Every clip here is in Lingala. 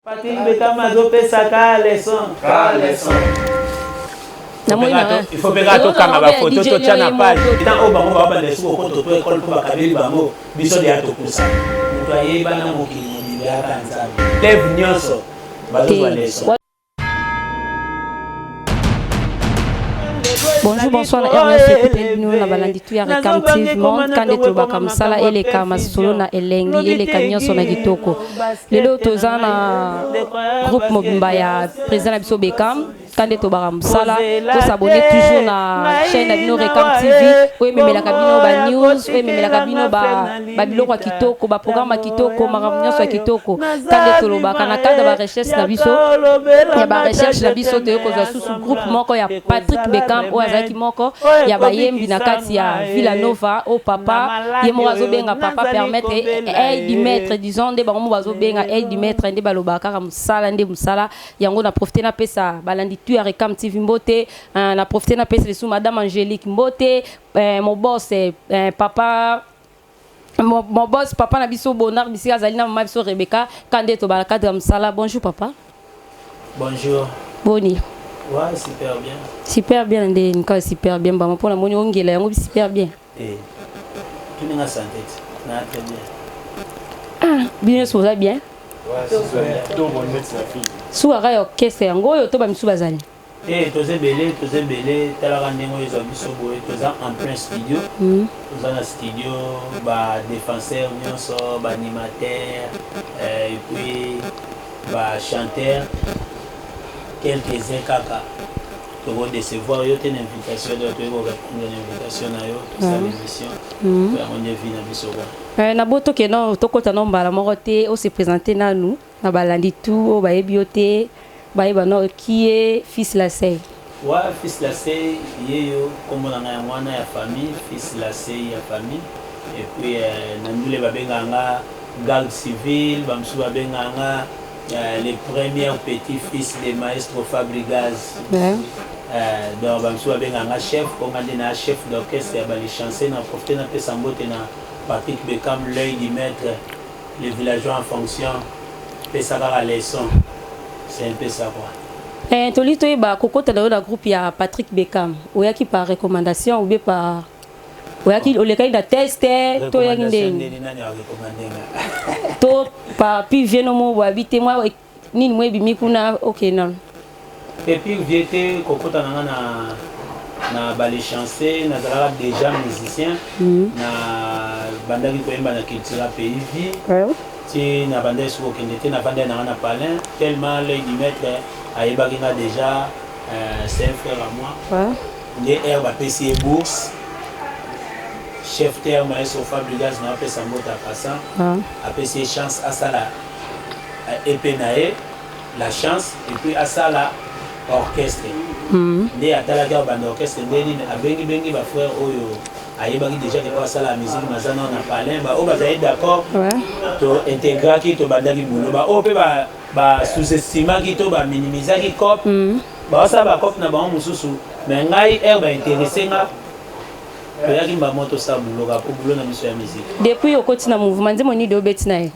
Patrick Betama azopesa ka leson. Ka leson. Il faut peka tokanga bafoto totya na page ina oyo bango babanda esuku okoto to ekole mpo bakabeli bango biso deya tokusa moto ayebana mokili mobimbi aka nzambe leve nyonso bazozwa leson Bonjour, bonsoir na RDS ekuteli bino na balandi tu ya Recam TV Monde kande tolobaka mosala eleka masolo na elengi eleka nyonso na kitoko lelo toza na groupe mobimba ya président na biso Beckham kande tobaka mosala tosabone toujours na chaîne na bino Recam TV oyo ememelaka bino ba news oyo ememelaka bino ba babiloko ya kitoko baprograme ya kitoko makambo nyonso ya kitoko kande tolobaka na kanda barecherche na biso ya barecherche na biso toye kozwa susu groupe moko ya patrick beckham oyo azalaki moko ya bayembi na kati ya villanova o papa ye moko azobenga papa permettre aide du maître disons nde bango moko bazobenga aide du maître nde balobaka kaka mosala nde mosala yango na profite napesa balandi tu ya recam tv mbote na profite napesa lisusu madame angélique mbote eh, mon boss eh, eh, papa Mon, mon boss, papa na biso Bonnard Bisika azali na maman biso Rebecca Kande tobala cadre ya mosala. Bonjour papa. Bonjour. Boni. Ouais, super bien. Super bien nde nika super bien bama pona moni ongela yango bi super bien. Eh. Tu n'as santé. Na très bien. Ah, bien so bien. Ouais, c'est bien. Donc on met sa fille. Sous arrêt orchestre yango oyo to ba misu bazali. Hey, toza ebele toza ebele talaka ndenge oyo ezwa biso boye toza en plein studio mm. toza na studio badefenseur nyonso baanimateur euh, epuis bachanteur quelques uns kaka tokodecevoir yo te na invitation to toyei korépondre na invitation na yo tosala mm. émission mm. yango nde vi na biso kwa eh, nabotoke no tokɔta no mbala moko te ose présente nanu Na balandi tout oyo bayebi yo te bayeba no qui est fils lasey. Wa fils lasey ye yo kombo na nga yango wana ya famille fils lasey ya famille et puis na ndule ba bengaka nga garde civil ba mosusu ba bengaka nga le première petit fils de maestro fabrigaz donc ba mosusu ba bengaka nga chef po nga nde na chef d'orchestre ya ba lichanceux na profite na pesa mbote na patrick bekam l'oeil du maitre Les villageois en fonction pesa kaka leçon c'est un peu ça quoi Eh, toli toyeba kokota na yo na groupe ya Patrick Beckham oyaki par recommandation ou bien par oyaki olekaki na test toyaki ndenge to par pi vie no mo boabi te mwa Nini mwe bimi kuna okay na. Te pire vie te kokota na nga na na bale chanceux nazalaka déjà musicien mm. na bandaki koyemba na cultura pays vie ouais. ti na bandaki soki kokende te navandai nanga na palin tellement l'œil du maître ayebaki nga déjà euh, c'est un frère à moi ouais. nde aire bapesi ye bourse chef terme ayesofa brigage na apesa mbota passa ouais. apesi ye chance asala epee na ye la chance et puis asala orchestre mm. nde atalaki awa banda orchestre nde nini abengi bengi ba frère oyo ayebaki déjà ke oyo asala musique maza nao na palin baoyo bazali d'accord to intégraki tobandaki bulo baoyo mpe ba sous-estimaki to ba minimisaki cope mm. baosala bacope na bango mosusu mais ngai heure bainteresse nga toyaki mbamoto sa buloka mpo bulo na biso ya musique depuis okoti na mouvement nzembo nini obeti na ye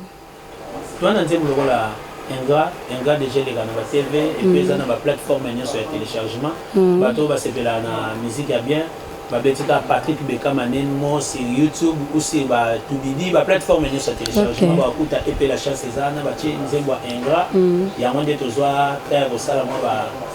Toa na nzembo lokola Ingrat, Ingrat dejà eleka na ba TV et puis eza na ba plateformes nionso ya telechargement. Bato oyo basepelaka na musique ya bien babeti kaka Patrick Bekama Nenmo sur YouTube ou sur ba Tubibi, ba plateformes nionso ya telechargement bakokuta EP La Chance eza wana, batie nzembo ya Ingrat, yango nde tozua temps ya kosala mua ba.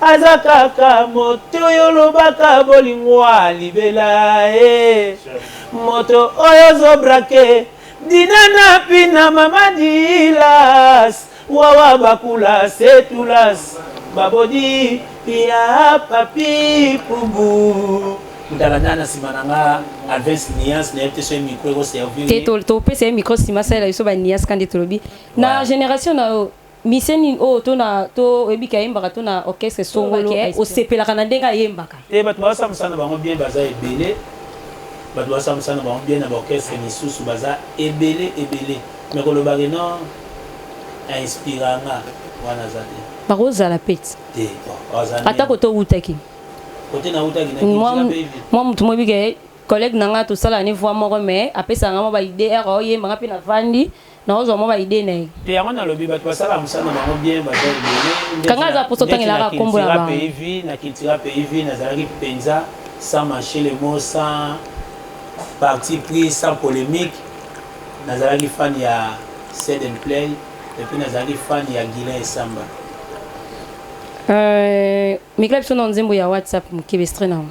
Aza kaka moto oyo olobaka bolingo ya libela eh. Moto oyo ozo brake Dina na Pina mama Dilas Wawa bakula setulas Babodi ya papi pubu ntala nana nsima na nga avance niance nayebi te soki micro ekoservir te topesa ye micro nsima asalela biso ba niance kande tolobi na génération na yo Musicien nini oyo to na to oyebi ke ayembaka to na orchestre songolo osepelaka na ndenge ayembaka? Te batu baosala musala na bango bien baza ebele batu baosala musala na bango bien na ba orchestre misusu baza ebele ebele mais koloba ke non a inspira nga wana aza te. Bakozala pe te. Te bon baza nde. Ata kote owutaki. Kote na wutaki na kinshasa pe vile. Mua mutu moko oyebi ke collègue na nga tosalaka ne voix moko mais apesaka nga mua ba idee heure aoyemba nga pe na vandi Nao zwa mwa ba idee na ye. Te yango nalobi batu basalaka musala na bango bien baza ebele Kanga aza posa otangelaka kombo na bango. Ndeti na Cultura Pays Vie na Cultura Pays Vie nazalaki penza sans macher le mot sans partie pris sans polemique nazalaki fan ya Said and Play et puis nazalaki fan ya Guilain Essamba. Euh, mikila biso na nzembo ya WhatsApp mokebe extrait na yango.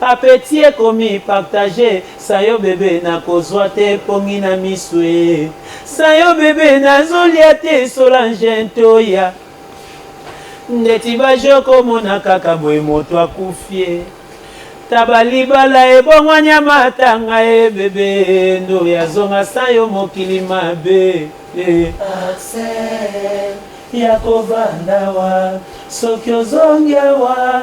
Appetit ekomi partager Sa yo bebe nakozua te pongi na misu ee Sa yo bebe nazo lia te Solange Ntoya Ndeti ba jeux oko mona kaka boye moto akufi ee Taba libala ebongwani ya matanga ee Bebe Ndoya zonga sans yo mokili mabe ee Accès ya ko vanda awa Soki ozongi awa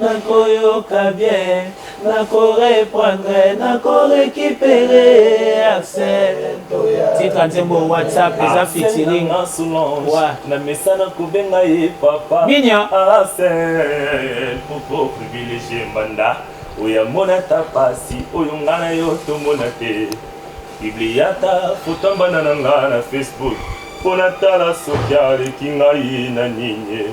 Nako yoka bien, nako reprendre, nako recuperer Axel Toya. Titre nzembo WhatsApp eza featuring. Wa. Na mesana kobenga ye papa. Minya. Axel poko privilégié mbanda. Oya mona ta pasi oyo ngana yo tomona te. Bibliata foto mbanda na nga na Facebook. Pona tala soki aleki ngai na nini.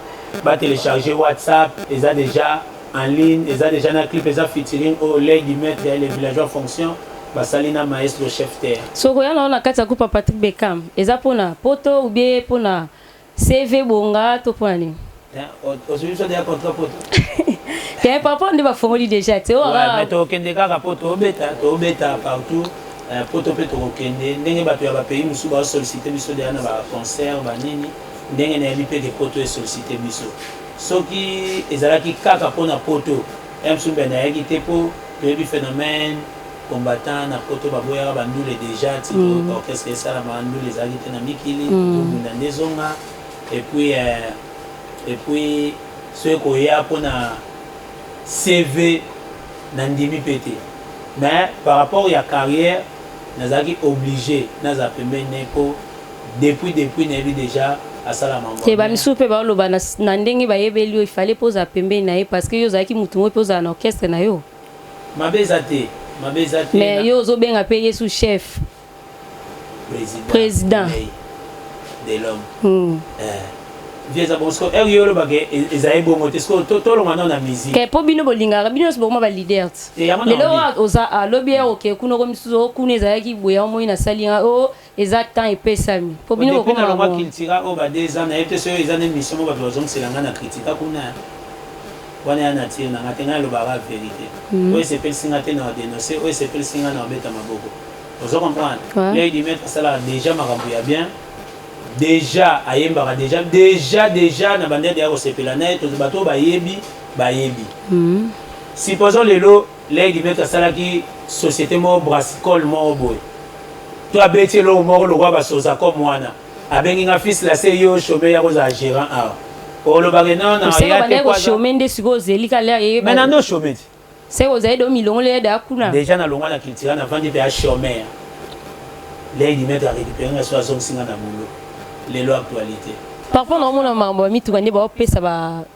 ba telecharger WhatsApp eza dejà en ligne eza dejà na clip eza featuring oyo l'oeil du maître ya les villageois fonction basali na maestro chef terre. Soki oya na yo na kati ya groupe ya Patrick Beckham eza pona poto ou bien pona CV bonga to pona nini? ozwi biso deja contrat poto te papa nde bafongoli deja te mais tokokende kaka po tobeta tobeta partout poto mpe tokokende ndenge bato ya bapays mosusu baosollicite biso deja na baconcert banini Ndenge nayebi pe ke poto e sollicite biso. Soki ezalaki kaka po na poto, Ems Umbende ayaki te po toyebi phenomène combattants na poto baboyaka ba ndule dejà ti orchestre esalama ndule ezalaki te na mikili tobunda nde ezonga et puis euh, et puis soki koya po na CV nandimi pe te mais par rapport ya carrière nazalaki oblige nazala pembeni na ye po Depuis depuis nayebi dejà asala mambo ya te ba bien. misusu pe bao loba na, na ndenge ba yebeli yo il fallait pe ozala pembeni na ye parce que yo ozalaki mutu ngo pe ozala na orchestre na yo Mabe eza te, mabe eza te mais na. yo ozo benga pe yesu chef President. President. Mei de l'homme. hum Eh. Vie eza bongo sikoyo heure yo oloba ke e- ezali bongo te sikoyo to- tolongwa nao na musique. ke po bino bolingaka bino nyonso bokoma ba leader te Te, yango na lelo obi. oyo oza a lobi ya oke kuna oko misusu o kuna ezalaki boye omoni nasali nga o Eza temps epesami po bino bokoma na ngo. Depuis nalongwa cultura oyo ba deux ans nayebi te soki eza na emission moko batu bazongisela nga na critika kuna wana eza nature na nga te ngai nalobaka kaka verite oyo esepelisi nga te nao denoncer oyo esepelisi nga nao beta maboko ozo comprendre l'oeil du maitre asalaka dejà makambo ya bien dejà ayembaka dejà dejà dejà na bandaki dejà kosepela naye bato oyo bayebi bayebi supposons lelo Lady Beto asalaki societe moko brassicole moko boye to abeti eloko moko lokola ba sozacom wana abengi nga fils la se yo chome ya kozala gerant awa olobaka non na ya te ko chome nde siko ozeli ka lea ye mais na no chome ti se ozali do milongoli ya da kuna déjà na longwa na culture na vandi pe ya chome ya Lady Beto a récupérer nga so azongisi nga na boulot lelo actualité par rapport na omona mambo ya mituka nde baopesa ba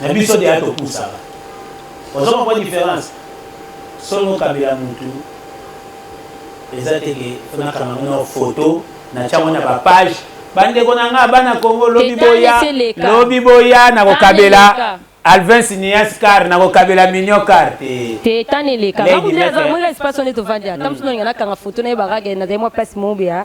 Mais biso deja topusaka. Ozo comprendre difference? Soki okabela mutu eza te ke fona kanga mona photo na tiango na ba page bandeko na nga bana Congo lobi boya lobi boya na kokabela Alvin Sinias car na kokabela Mignon car te te tane leka na kundi na za mwe espace on est au vandi atam sino ngana kanga photo na ye baraga na demo place mobia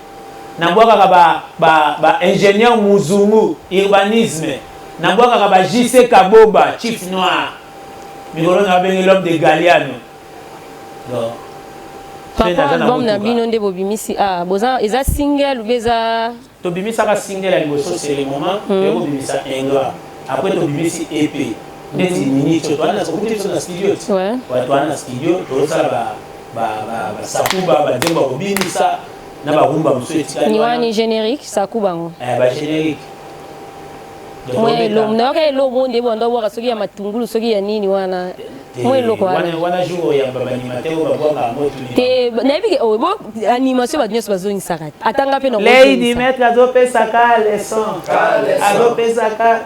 na bwakaka ba ba ba ingenieur muzungu urbanisme na bwakaka ba JC Kaboba chief noir mikolo na babengi l'homme de Galiano donc papa album na bino nde bobimisi ah boza eza single ou eza tobimisaka single ya liboso c'est le moment hmm. ya kobimisa ingrat après tobimisi EP ndeti hmm. minicho toana sokuti biso na studio ti toana na studio tozosala ba ba ba sakuba ba nzembo ya kobinisa na ba rumba mosusu etikali ni wani generique sakuba ngo eh ba generique mwa eloko nayoka eloko ngo nde bonda obwaka soki ya matungulu soki ya nini wana mwa eloko te nayebi ke oyo oh, animation bato nyonso bazongisaka te atanga mpe na lady maître azopesaka leson azopesaka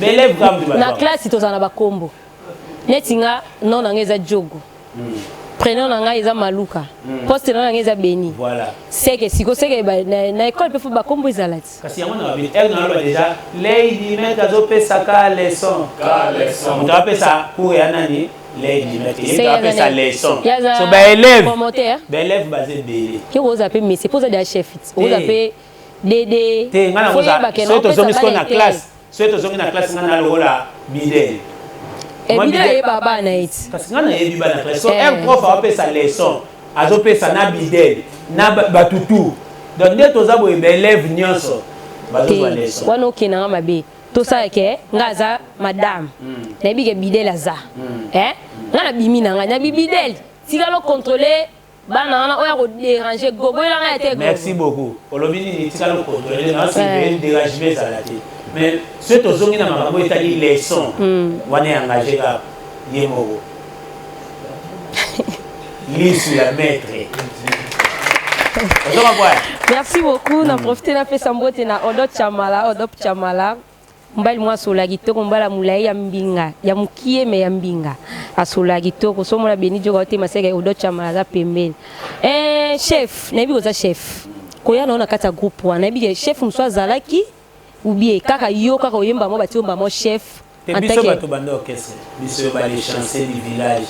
B'elève kaka moto na bazwaka. classe tozala na bakombo neti nga non na nga eza djogo prenom na nga eza maluka poste na na nga eza beni Voilà. seke siko seke ba- na na ecole mpe fo bakombo ezala ti Kasi yango na babeli. Elle na loba déjà Lady Met azopesa ka leçon. Ka leçon. Moto apesa cours ya nani? Lady Met. Ye Seke moto aza apesa nani? leçon. Ye aza So ba élèves. promoteur. Ba élèves baza ebele. yo oza mpe mese mpo oza deja chef ti oza Te. mpe dede te nga na koza soki tozongi sikoyo na classe soki tozongi na classe nga na lokola bidele ebida eh, yeba bana eti kasi nga nayebi bana classe so eh. un prof apesa leçon azopesa na bidele na bato tout donc nde toza boye baelève nyonso bazozwa leçon wana okenda nga mabe tosala ke nga aza madame hmm. nayebi ke bidele aza hmm. eh? nga nabimi na ngai na bibidele tikalo contrôler bana wana oya ko déranger gogo ela ngai te merci beaucoup olobi nini tika lo contrôler na si pe dérangement ezala te mais ce to zongi na makambo etali leçon hmm. wana ya engagé ka ye moko lisu ya maître merci beaucoup na hmm. profiter na pesa mbote na odot chamala odop chamala Mobali mwa asola kitoko, mobali ya mulayi ya mbinga, ya mukie me ya mbinga. Asola kitoko. So mona Beni Dioka ote maseke Odo Chama aza pembeni. Eh chef, nayebi koza chef. Koya na ona kati ya groupe wana. Nayebi ke chef musu azalaki ou bien kaka yo kaka oyemba mo bati omba mo chef. Te biso bato banda orchestre, biso yo ba les chanceux du village,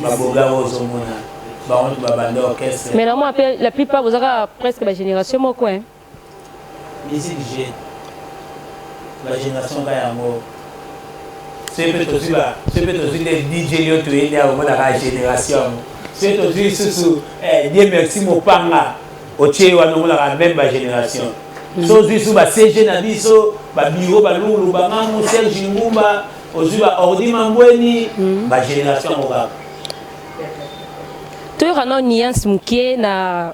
ba boga ozo mona, ba onde ba banda orchestre. Mais na mona pe la plupart boza kaka presque ba generation moko hein. Musique jeune ba generation ka yango soki mpe tozwi ba soki mpe tozwi nde dj lio toye nde akomonaka generation yango soki tozwi lisusu eh, die merci mopanga otie ye wana omonaka meme ba generation mhm. so ozwi lisusu ba cg na biso babiro balungulu bangamu serge ngumba ozwi ba ordi mambweni mhm. ba generation yango kaka toyoka nao niance moke na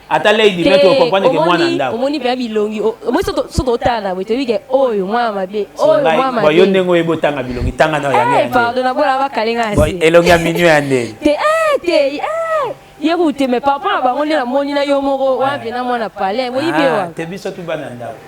ata lady mais to comprendre que mwana ndako omoni pe bilongi omoni soto soto otana boye toyebi ke oyo mwana mabe oyo mwana mabe yo ndenge oyebi otanga bilongi tanga na yango eh pardon na bola bakalenga asi elongi ya minyo ya ndenge te eh te eh ye kute mais papa na bango nde namoni na yo moko wapi na mwana palais boyebi ah, wa te biso tu bana ndako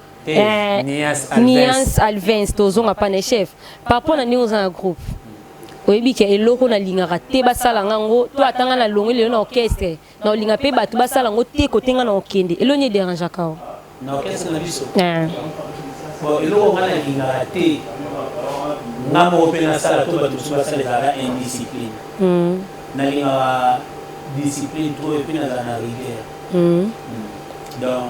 Eh, Niance Alvens tozonga pa na chef papa na ndenge oza na groupe oyebi ke eloko nalingaka te basala nga yango to ata nga nalongwe lelo na orchestre na olinga mpe bato basala yango te kote nga na okende elo nini ederangeaka o na orchestre na biso eh. bon eloko nga nalingaka te nga moko mpe nasala to bato mosusu basala ezalaka indiscipline hmm. nalingaka discipline to epe nazala na rigueur hmm. hmm. donc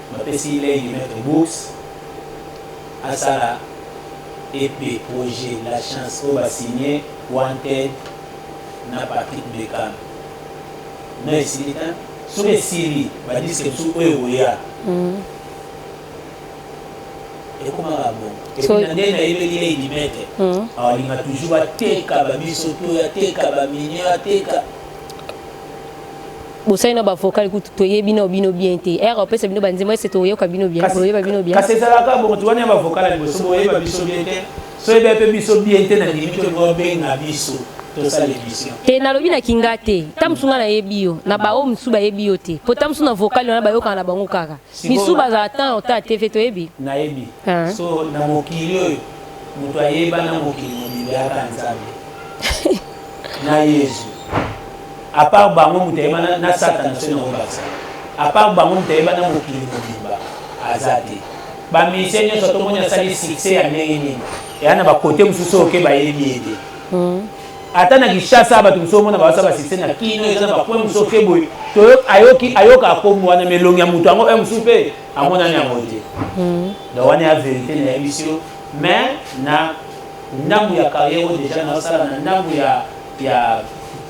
Bapesi lei du maitre bourse asala EP projet la chance oyo ba signe wanted na Patrick Beckham na esili tein soki esili ba disque mosusu oyo ekoya ekomaka bongo epuis na nde nayebeli lei du maitre alinga toujours ateka ba biso to ateka ba minier ateka bosali na bavocal kutu toyebi na bino bien te ere opesa bino banzembo ese toyoka bino bien toyeba bino bien kasi ezalaka bongo ti wana ya bavocal ya liboso boyeba biso bien te so yeba mpe biso bien te na ndimi to bobenga biso te nalobi na kinga te ta mosu nga nayebi yo na baoyo mosusu bayebi yo te po ta mosusu na vocal wana bayokana na bango kaka Misu bazala temps au temps TV toyebi. Nayebi. Ah. So na mokili oyo moto ayeba na mokili mobimba aka Nzambe. na Yesu. À part bango moto ayeba na, na Satan so na obakisa. À part bango moto ayeba na mokili mobimba aza te. Ba musiciens nyonso tomoni asali succès ya ndenge nini. Eya na ba côté mosusu oke bayebi ye te. Mm. ata na Kinshasa bato mosusu omona baza ba succès na kino eza na bapoint mosusu oke boye ayoki ayoka akombo wana melongi ya moto yango mosusu mpe amonani yango te hmm. donc wana ya verité na yebisi yo mais na ndambo ya carrière oyo deja naosala na ndambo ya ya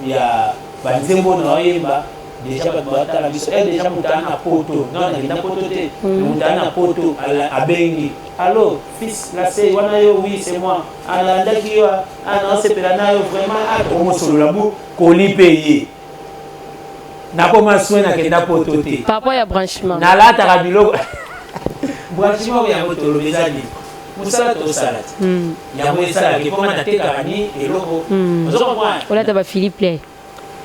ya banzembo na oyemba deja bato batala biso e deja moto aa na poto non nakenda poto te hmm. moto aa na poto abengi allo Fils na se wana yo oui c'est moi alandaki yo a na sepela na yo vraiment a omo solola bu koli pe ye nakoma soin na kenda poto te papa ya branchement nalataka biloko branchement ya motolo ezali mosala tosala te yango esalaki mpo nga natekaka ni eloko ozo comprendre olata ba philippe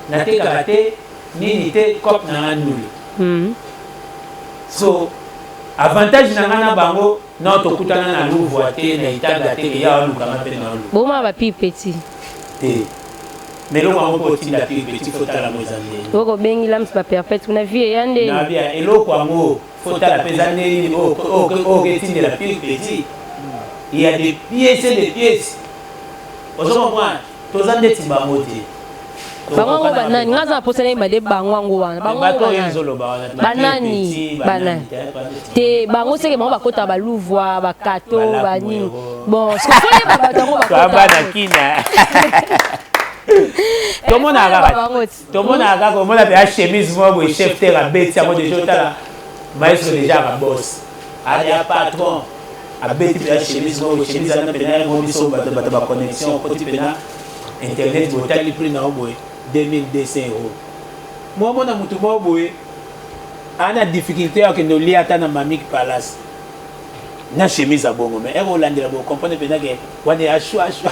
Na tekaka te nini te coop na nga ndule. So avantage na nga na bango non tokutana na Louvre te na Itaga te ke yawa luka nga pe na oluka. Boma ba pire petit. Te. Mais eloko yango po otinda pire petit faut tala ngo eza ndenge. Oyo ko bengi lams ba perpète kuna vie eya ndeni. Na bia eloko yango faut tala pe eza ndenge nini oyo oyo ke tindela pire petit. Il ya des pièces et des pièces. Ozo comprendre? Toza ndeti bango te. Bango yango banani? Nga aza na posa nayeba nde bango yango wana. Bango yango Bato oyo banani? ezoloba wana. te, Banani? Bakipiti, Banani? banani, te, ba ndeti Te bango seke bango bakota ba Luvua, ba Kato, Balaku ba nini. Mwero. Bon, sikoyo fo yeba bato yango bakota. Toa bana yango. kina. Tomonaka Bango kaka. te. tomonaka kaka omona mpe a chemise moko boye chef ter abeti yango deja otala maestro deja aka bos aya patron abeti mpe a chemise moko chemise ana mpena yango biso bato bato ba connexion okoti mpena internet boye otali prix na yo boye 2200 euro momona motu moko boye ana difficulté ya kende olia ata na mamique palace na chemise ya bongo mais eko olandela bo comprendre pena ke wana ya shwa shwa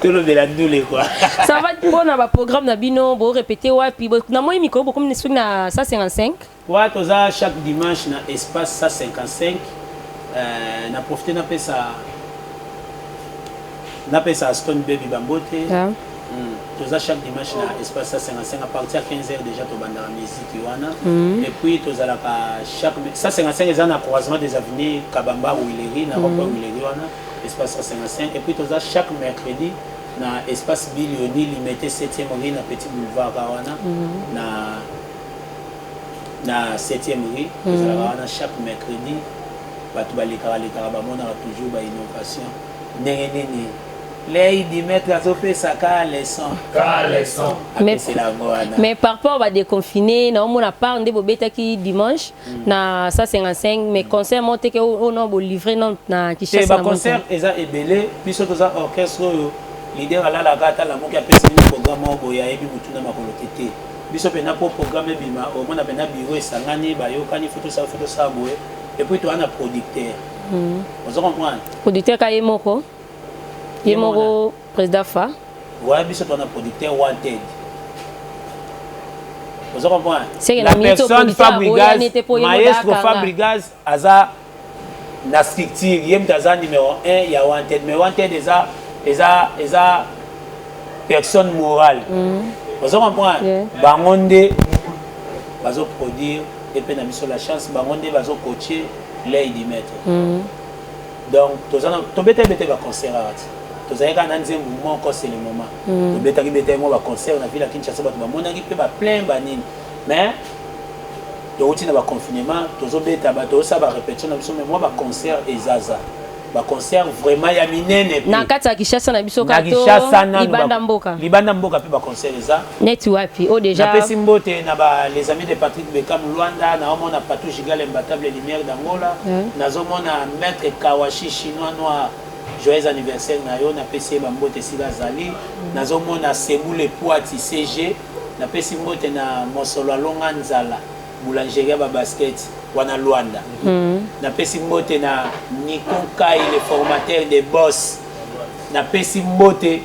tolobela ndule kwa ça va mpona ba programme na bino bo répéter wapi na moi mikolo bokomi na soki na 155 wa toza chaque dimanche na espace 155 euh, na profiter napesa napesa stone baby bambote yeah. toza chaque dimanche na espace 155 à partir ya 15 heures déjà tobandaka musique wana mm. et puis tozalaka chaque 155 eza na croisement des avenues kabamba wileri na rond-point mm. wileri wana espace 155 et puis toza chaque mercredi na espace bilioni limete 7e rue na petit boulevard wana mm. na na 7e rue mm. tozalaka wana chaque mercredi bato balekaka lekaka bamonaka toujours ba innovation ndenge nini Lady maitre azo pesa ka leçon. Ka leçon. Apesela ngo wana. Mais par rapport ba déconfiné na omona part nde bobetaki dimanche mm. na 155 mais concert mo teke o non bo livrer non na Kinshasa. Te ba concert eza ebele biso toza orchestre oyo leader alalaka ata lamuki apesi bino programme moko boye ayebi motuna makolo te te biso mpenza mpo programme ebima omona mpenza biro esangani bayokani fo tosala fo tosala boye epuis toa na producteur hmm. ozo comprendre producteur ka ye moko ye moko président fa waya biso tona producteur wanted oza comprendre la personne fabrigas maestro fabrigas aza na structure ye moto aza numéro 1 ya wanted mais wanted eza eza eza personne morale mm. oza comprendre yeah. bango nde bazoproduire epe na biso la chance bango nde bazocoache ley du maître mm. donc toza na tobeta beta ba concert awa ti tozalaki kaka na nzembo moko c'est le moment mm. tobetaki betaki mwa baconcert na ville ya kinshasa bato bamonaki mpe baplein banini mais towuti na baconfinement tozobeta tozosala barépétition na biso mai mwa baconcert ezaza baconcert vraiment ya minene na kati ya kinshasa na biso libanda mboka libanda mboka mpe baconcert eza neti wapi o oh, deja napesi mbote na ba les amis de Patrick Beckham Luanda na omona Patou Gigal imbattable lumière d'Angola mm. nazomona maître Kawashi chinois noir joyeux anniversaire na yo napesi ye bambote esika azali mm. nazomona sebule poati cg napesi mbote na mosolo alonga nzala boulangerie ya babasket wana Luanda mm. napesi mbote na Nico Kai le formateur des boss napesi mbote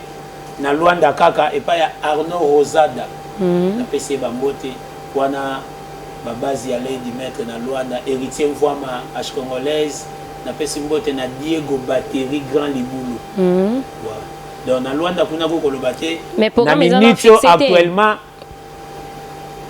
na Luanda kaka epai ya Arnaud Rosada napesi ye ba mbote wana ba base ya Lady Maitre na Luanda Heritier Mvuama H Congolaise napesi mbote na Diego Batterie Grand Libulu donc na Luanda kuna ko koloba te na minute oyo actuellement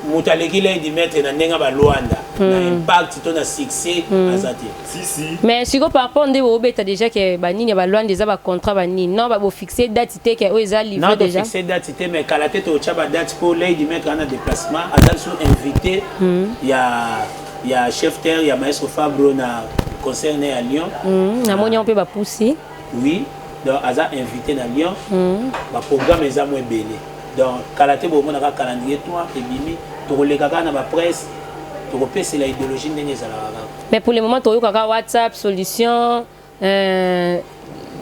moto aleki lady maître na ndenge ba luanda hmm. na impact to na succès hmm. aza te si si mais siko par rapport nde obeta déjà que ba nini ba luanda eza ba contrat ba nini non ba bo fixer date te que oyo eza livré déjà non fixer date te mais kala te to cha ba date pour lady maître ana déplacement aza sous invité hmm. ya ya chef terre ya maestro Fabro na concert à Lyon hmm. na moni on peut ba pousser oui donc aza invité na Lyon hmm. ba programme eza mo ebele Donc kala te bomona kaka calendrier toi ebimi tokoleka kaka na ba presse tokopesela ideologie ndenge ezalaka kaka. Mais pour le moment toyoka kaka WhatsApp solution euh,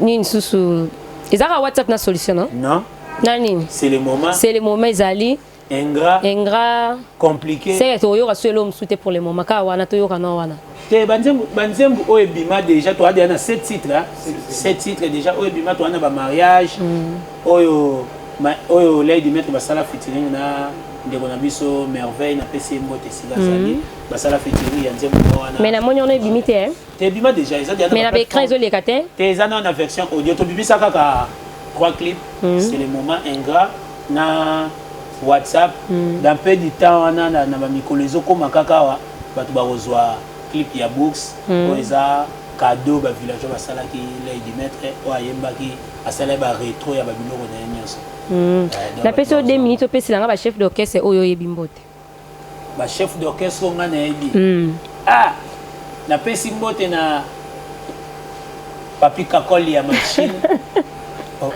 nini susu eza kaka WhatsApp na solution non? Non. Na nini? C'est le moment. C'est le moment ezali ingrat ingrat compliqué. C'est toyoka solo mosusu te pour le moment kaka wana toyoka na wana. te banzembu banzembu oyo ebima déjà toa deja na 7 titre 7 titre déjà oyo ebima toa na ba mariage mm. oyo ma, oyo lay du maître basala featuring na ndeko na biso merveille na pesi ye mbote esika mm. azali basala featuring ya nzembu moko wana mais namoni wana ebimi te eh? te ebima déjà eza deja mais na baecran ezoleka te te eza na na version audio tobimisa kaka trois clip mm. c'est le moment ingrat na whatsapp mm. dans peu du temps wana na bamikolo ezokoma kaka awa batu bakozua clip ya bourx oyo eza cadeau ba villageois basalaki ley du maitre oyo ayembaki asala ye ba retro ya ba biloko na ye nionso na pesi yo deux minutes opesela nga ba chef d'orchestre oyo oyebi mbote ba chef d'orchestre oyo nga nayebi ah na pesi mbote na papi kakoli ya machine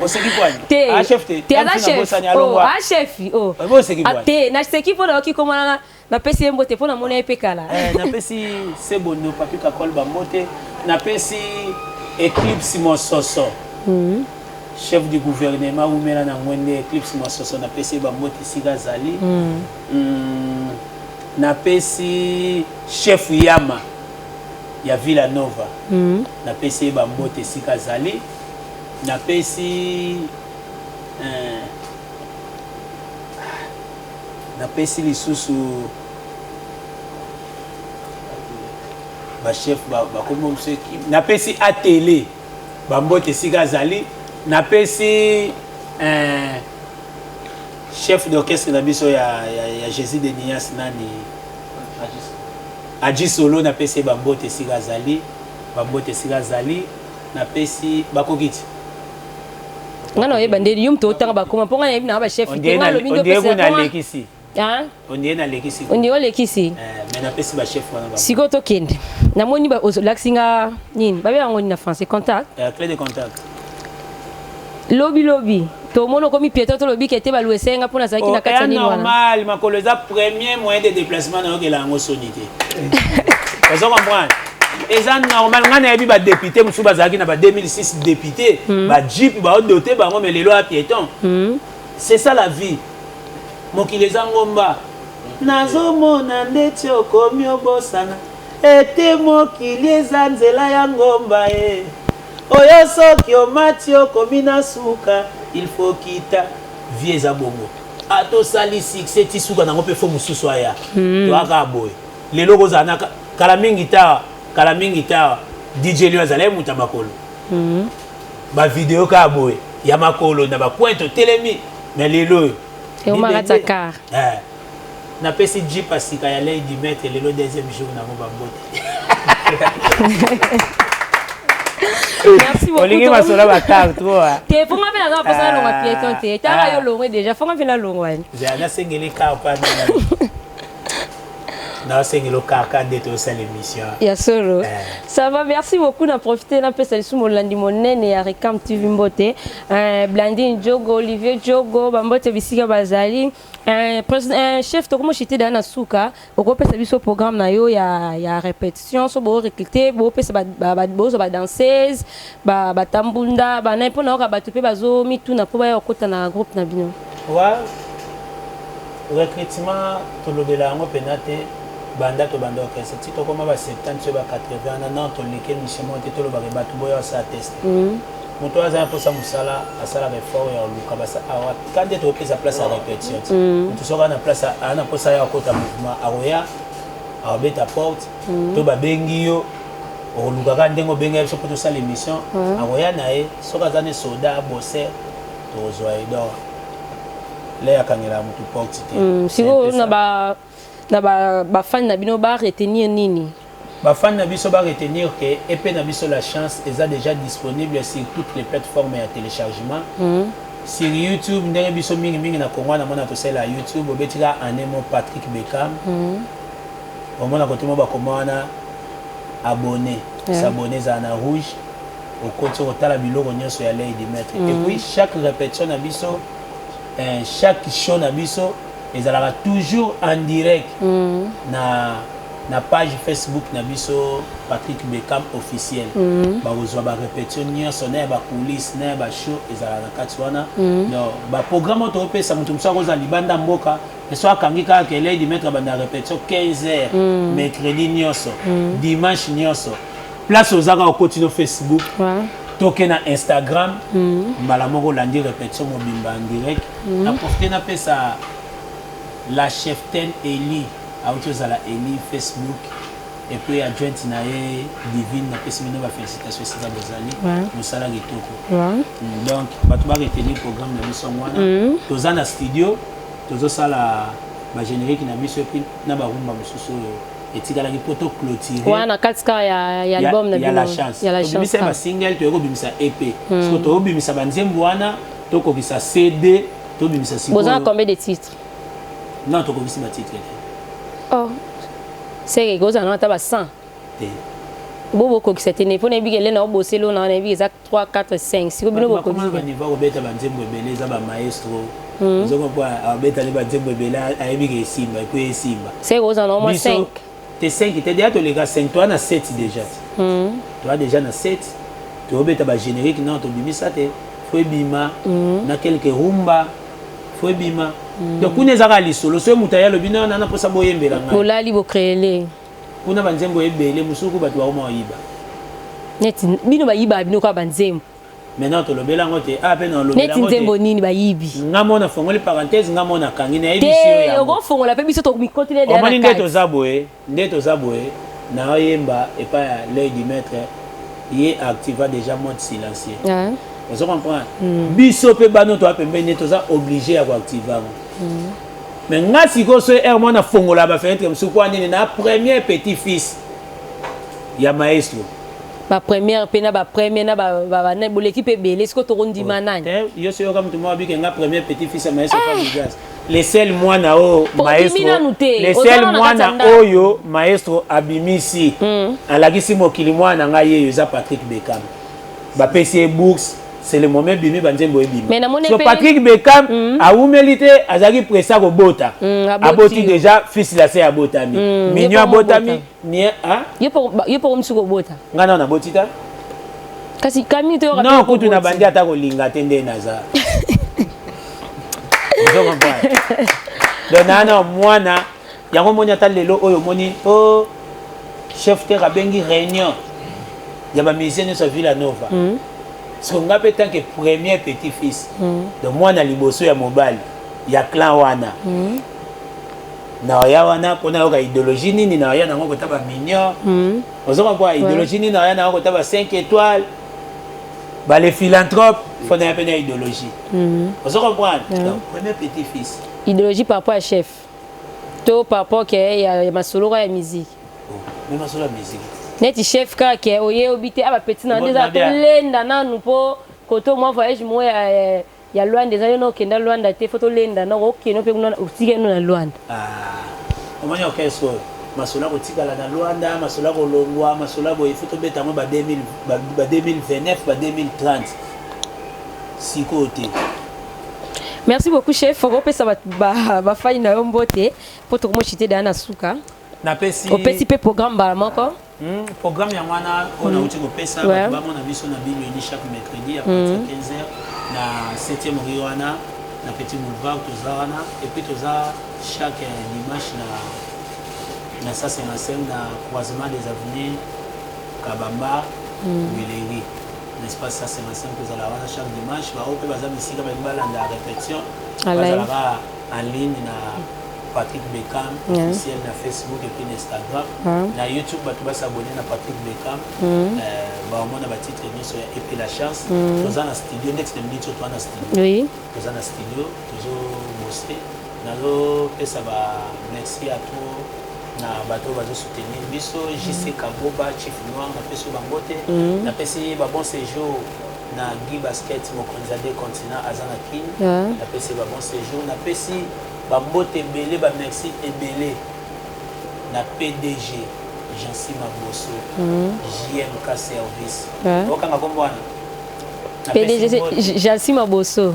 oseki kwani te ah chef te te aza chef oh ah chef oh oseki kwani te na seki mpo nayoki komona Napesi ye mbote mpo namona ye mpe kala. Eh, napesi Sebondo Papi Kakol bambote, napesi Eclipse Mososo mm. chef du gouvernement wumela na ngwende Eclipse Mososo napesi ye bambote esika azali mm. Mm, napesi chef Yama ya Villa Nova mm. napesi ye bambote esika azali napesi eh, Napesi lisusu ba chef ba ba kombo mse napesi atele ba mbote esika azali napesi eh, chef d'orchestre na biso ya, ya, ya Jésus de Nias nani Adji Solo napesi ba mbote esika azali ba mbote esika azali napesi bakokiti nga na oyeba nde yum totanga bakoma mpo nga nayebi na ba chef te nga lobi nde opesa na lekisi ondie nalekisi ondie olekisi sikoyo tokende namoni olakisi nga nini babe yango nini na français contact lobi lobi tomoni okomi pieto tolobi kete baluese nga mpo nazalaki na oh, kati ya nini wana normal makolo eza premier moyen de déplacement nayokela yango soni te ozo comprendre eza normal ngai nayebi badepute mosusu bazalaki na ba 2006 depute mm. bajipe baodote bango me lelo ya pieton mm. c'est ça la vie mokili eza ngomba nazomona ndeti okomi obosana ete mokili eza nzela ya ngomba e oyo soki omati okomi na suka il faut kita vie eza bongo ata osali succès ti suka nango mpe fo mosusu aya hmm. toyaka boye lelo kozala naka Kala mingi ta, kala mingi ta, DJ Lion azalaki moto ya makolo. Mm -hmm. Ba video kaka boye ya makolo na ba coin totelemi mais lelo oyo. Eumaka ta car. Eh. Napesi Jeep ya sika ya Lady Maître lelo deuxième jour na ngo ba mbote. merci beaucoup olingi masolo bakar trop hein. te fonga mpe naza mposa nalongwa ah. pieton te tala ah. yo longwe déjà fonga mpe nalongwani nasengeli kar mpe na osengeli okaka nde tosala émission ya solo eh. ça va merci beaucoup na profite napesa lisusu molandi monene ya recam tv mbote eh, blandine jogo olivier jogo bambote bisika bazali eh, eh, chef tokomoshite daa na suka okopesa biso programme na yo ya, ya repete sions bo recruter bo pesa ba, ba, ba bozo ba danseuse ba ba tambunda ba na pona oka batu pe bazo mituna po baya okota na groupe na bino wa recrutement tolobela yango pena te banda to banda orchestre ti tokoma ba 70 sur ba 80 na non to like mission monte to loba ke batu boya sa test mm. moto oyo aza na mposa mosala asalaka effort ya koluka basa awa kande tokopesa place ya répétition ti moto soki ana place ana mposa ya kokota mouvement akoya akobeta porte mhm. to babengi yo okoluka kaka ndenge obenga biso mpo tosala émission mhm. akoya na ye soki aza ne soda abose tokozwa ye donc le akangelaka motu porte te mhm. sikoyo na bafani na bino ba retenir nini bafani na biso ba retenir ke epe na biso la chance eza déjà disponible sur toutes les plateformes ya téléchargement Sur YouTube ndenge biso mingi mingi na Congo na mona tosela YouTube obeti ka année mo Patrick Beckham. Mm. Omona kote mo bakoma wana abonné. Yeah. S'abonner za na rouge. Okoti otala biloko nyonso ya Lady Maître. Mm. Et puis chaque répétition na biso eh, chaque show na biso ezalaka toujours en direct mm. na na page facebook na biso patrick beckham officiel mm. bakozwa barepétition nyonso na ya bacoulisse na ya bashow ezalaka na kati wana mm. donc baprogramme oyo tokopesa moto mosusu akozala libanda mboka so akangi kaka keledi maître banda repétition 15 heures mm. mercredi nyonso mm. dimanche nyonso place oza kaka okoti no facebook toke na instagram mm. mbala moko olandi repetition mobimba en direct mm. na profite napesa la cheftaine eli auti ozala eli facebook epuis adjointe na ye divine napesi bino bafélicitation esika bozali mosala kitoko mm, donc bato bareteni programme na biso yango wana mm. toza na studio tozosala bagénérique na biso epuis na barumba mosusu oyo etikalaki mpo to clôturer wana na kati kaka ya, ya album na bino ya la chance tobimisa ba single toyeko bimisa EP mm. siko tobimisa ba nzembo wana tokokisa CD tobimisa siko bozana combien de titres non tokokisi ba titres te oh seke kozana ata ba 100 te bo bokokisa te ne mpo nayebi ke elena oboseli ona wana nayebi eza 3 4 5 siko bino boko nini ba niveau obeta ba nzembo ebele za ba maestro hmm. nzoko kwa abeta ni ba nzembo ebele ayebi ke simba et puis simba c'est ko za normal 5 te 5 te déjà to les gars 5 toi na 7 déjà hmm. toi déjà na 7 to obeta ba générique non to bimisa te faut ebima hmm. na quelques rumba faut ebima donc kuna ezaka lisolo soki moto aye alobi nana naposa boyembela ngai bolali bocreele Kuna ba nzembo ebele musuku batu bakoma koyiba. Neti bino bayibaka bino kaka ba nzembo. Maintenant tolobela yango te. Ah pe na olobela yango te. Neti nzembo nini bayibi? Nga mona fongoli parenthèse nga mona kangi na yebisi yo yango. Te oko fongola pe biso tokomikotela de na kati. Omoni nde toza boye, nde toza boye na oyemba epa ya l'œil du maître ye activa déjà mode silencieux. Ah. Ozo comprendre? Mm. Biso pe bano toa pembeni toza oblige ya ko activa yango. Mm. mais nga sikoyo soki heure mwana afongola bafenetre mosusu mpo anini na premier petit fils ya maestro bapremière mpe na bapremière na babana boleki mpe ebele sikoyo tokondima oh, nani eh, yo soki yoka motu moko abike nga premier petit fils ya maestro famigas eh! le sel mwana oyo oh, maestro le sel mwana oyo maestro abimisi hmm. alakisi mokili mwana na ngai yeyo eza patrick bekam bapesi ye bourse c'est le moment ebimi banzembo ebimi Mais namoni so pe- patrick beckham Mm. awumeli te azalaki presse ya kobota Mm, aboti. aboti déjà fils la se abotami Mm, mignon ye moko abotami abota. mie ah, yo mpe ba- yo mpe okomisi kobota ngai nao naboti ta kasi kami toyoka non mpe kutu na okoboti. bandi ata kolinga te nde naza Ozo comprendre? donc nana mwana yango omoni ata lelo oyo omoni o oh, chef terre abengi réunion ya bamusicien nyonso ya villa nova mm. siko ngai mpe tant que premier petit fils mm. donc mwana liboso ya mobali ya clan wana mm. naoya wana mpo nayoka idéologie nini naoya nango kota baminior mm. ozo kompoa idéologie nini naoya nango kota ba 5 étoile bale philanthrope fo naya mpe na idéologie mm. ozo kompoana donc premier petit fils idéologie par rapport ya chef to par rapport ke ya masolo kaka ya musique mais masolo ya musique neti chef kaka ke oye obi te aba petit na nde eza tolenda nanu mpo koto mwa voyage moko ya eh, ya Luanda eza yo na okenda Luanda te fo tolenda na okokende mpe kuna otike no na Luanda ah, omoni orchestre oyo masolo ya kotikala na Luanda masolo ya kolongwa masolo ya boye fo tobeta yango ba 2029 ba 2030 sikoyo te Merci beaucoup chef, faut opesa ba ba, ba faille na yo mbote po to mochite da na suka. Na pesi. Opesi pe programme bala moko. Hmm, programme ya wana on a uti ko pesa ba ba mona biso na bible ni chaque mercredi à partir de 15h hmm. na 7e rue wana na petit boulevard toza wana et puis toza chaque euh, dimanche na na ça c'est la scène na croisement des avenues Kabamba, hmm. Guileri. N'est ce pas ça c'est ma sœur kozala wana chaque dimanche ba ope baza bisika ba balanda répétition bazala ba en ligne na Patrick Beckham officiel na Facebook et puis na Instagram na YouTube bato ba s'abonner na Patrick Beckham mm. euh, ba omona ba titre nyonso ya et puis la chance mm. toza na studio next minute toza na studio oui toza na studio tozo bosser Nazo pesa ba merci à tout na bato oyo bazo soutenir biso JC Kaboba Chief Noir na pesi ba mbote Mhm. na pesi ba bon séjour na Guy Basket mokonzi ya deux continents aza na Kin Ah. na pesi ba bon séjour na pesi ba mbote ebele ba merci ebele na PDG Jansi Maboso Mhm. JMK service Ah. okanga kombo wana Na pesi PDG mbote. c'est Jalsi Maboso.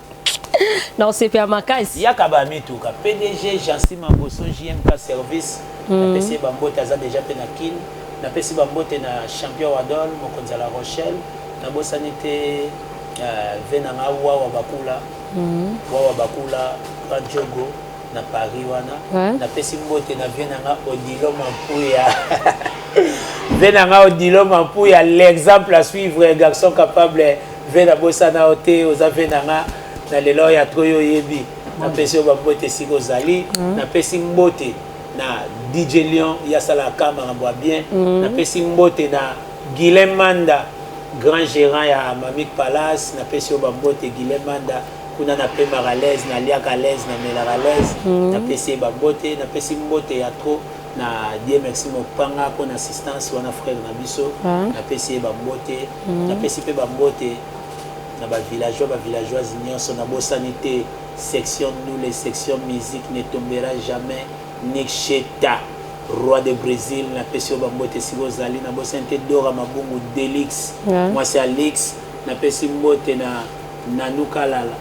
na osepela makasi yaka ba mituka pdg jansi maboso jmk service mm. napesi ye bambote aza deja mpe na kin napesi bambote na champion wadol mokonzi ya la rochelle nabosani te uh, ve na nga wawa bakula mm. wawa bakula kajogo na paris wana ouais. napesi mbote na vie na nga odilo mampuya vie na nga odilo mampuya l'exemple à suivre garçon capable Ve na bosana yo te oza ve na nga na lelo ya tro yo oyebi napesi yo bambote esika ozali mm. napesi mbote na dj lion ya asalaka makambo ya bien mm. napesi mbote na guilem manda grand gérant ya mamik palace napesi yo bambote guilem manda kuna napemaka alaise naliaka alaise namelaka alaise mm. napesi ye bambote napesi mbote ya trop Na die merci mopanga pona assistance wana frère na biso na pesi ye ba mbote na pesi pe ba mbote na ba villageois ba villageoise nionso na bosani te section ndule section musique ne tombera jamais niksheta roi de Bresil na pesi yo ba mbote esika ozali na bosani te Dora Mabungu Delix mwasi Alix na pesi mbote na Nanou Kalala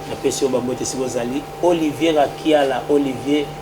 na pesi yo ba mbote esika ozali Olivier Rakiala Olivier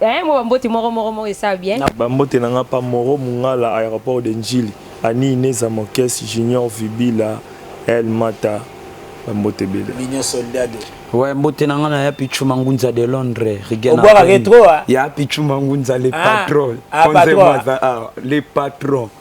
Hein, moi bambote moro moro moro esa bien. Bambote na nga pa moro mungala aéroport de Ndjili, Annie Ineza Mokes, Junior Vibila, El Mata, bambote ebele. Mignon Soldado. Ouais, mbote na nga na ya Pichu Mangunza de Londres, Rigena. Obwaka ke trop ah. Ya Pichu Mangunza le patron. Ah, patron. Le patron.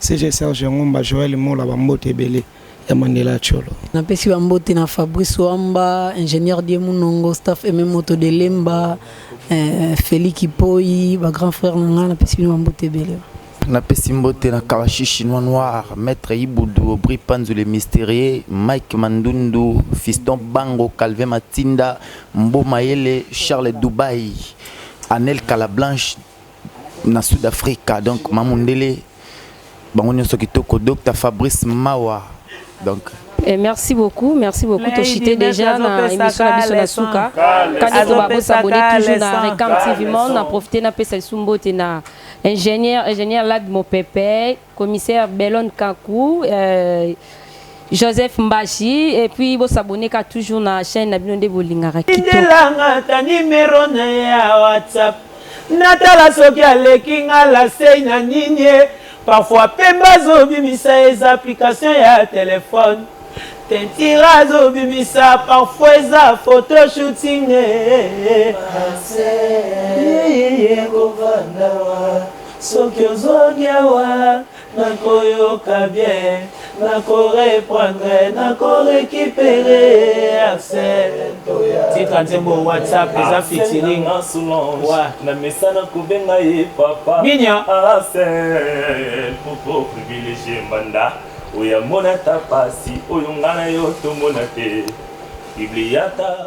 CG Serge Ngumba Joel Mola ba mbote ebele ya Mandela ya Tsholo. Na pesi ba mbote na Fabrice Wamba, Ingenieur Die Munongo, staff MM Moto de Lemba, eh, Feli Kipoyi, ba grand frère na nga na pesi bino ba mbote ebele. Na pesi mbote na Kawashi Chinois Noir, Maître Ibudu, Aubry Panzu le Mystérieux, Mike Mandundu, Fiston Bango, Calvin Matinda, Mbo Mayele, Charles Dubaï, Anel Kalablanche, na sud africa donc mamundele bango nyonso kitoko docteur fabrice mawa donc Eh, merci beaucoup, merci beaucoup. Lady Toshite Mess déjà na azopesa émission na ka biso na leçon. suka. Ka leçon. Kani ko ba ko Azopesa s'abonner ka toujours na leçon. Recam Ka TV Monde, na profiter na pesa lisumboti na ingénieur ingénieur Lad Mopepe commissaire Belon Kaku, euh, Joseph Mbashi et puis bo s'abonner ka toujours na chaîne na bino nde bolingaka kitoko. Tindelanga ta numero na ya WhatsApp natala soki aleki nga la sei na nini parfois pemba azobimisa eza application ya telefone tentira azobimisa parfois eza photo shooting eh, eh, eh. Soki ozongi awa nakoyoka bien nako reprendre nako recupere arsène tika nzembo whatsapp eza fitiring na mesa na kobenga ye papa minia arsène poko privilegie mbanda oyo amona ta pasi oyo nga na yo tomona te bibliata